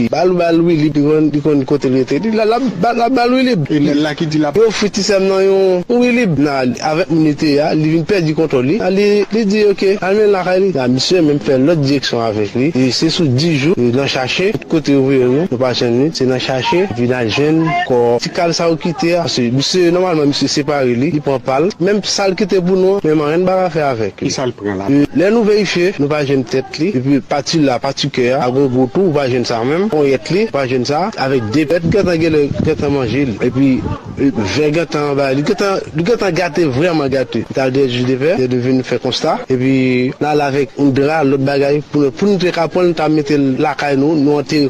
Bal bal wi li li konn kote li rete li lap bal wi li e nèl la ki di lap ofri ti sèm nan yon wi li nan avèk moun li te ye a li vin pèdi kontwòl li nan li li di ok al mennen l lakay li nan misye menm fè lòt direksyon avèk li e se sou 10 jou nan chache tout kote yo voye nou nou pa jwenn li se nan chache epi nan jwenn kò Kal sa ou kite a paske misye nòmalman misye separe li li pran pal menm sal kite pou nou an menm anyen n pa ka fè avèk li Kisal pran la pli. Lè nou verifye nou pa jwenn tèt li epi pati la pati kè a ak rego tou ou pa jwenn sa menm ponyèt li ou pa jwenn sa avèk de pèt gentan genlè gentan manje li epi vè gentan anba li gentan li gentan gate vrèman gate li ta dè jus de vè lè nou vin fè konsta epi nal avèk yon dra lòt bagay pou nou te ka pranl nou ta metel lakay nou nou antere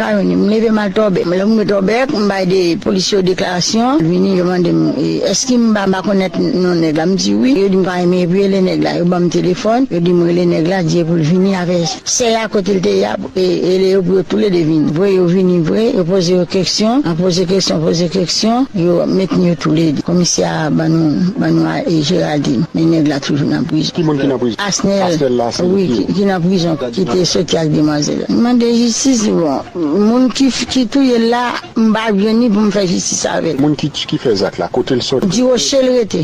Pa yon nen, m leve m al Torbeck. Lè m rive Torbeck, m bay de polisye yo deklarasyon. Yo vini, yo mande m, èske m pa konèt non nèg la. M di wi. Yo di m pa renmen epi rele nèg la. Yo ban m telefòn, yo di m rele nèg la, di yo pou l vini avè sè a kote l te ye a, rele yo pou yo toule de vini vre. Yo vini vre, yo poze yo keksyon, nan poze keksyon, poze keksyon, yo mennen yo toule de. Komisè a ban nou, ban nou Géraldine, men nèg la toujou nan prizon. Ki moun ki nan prizon? Asnel, wi, ki nan prizon. Kite soti ak demwazel m mande jistis li bon moun ki touyel la m pa jwenn li pou m fè jistis avel. Moun ki fè zak la kotel soti. Ti roche l rete.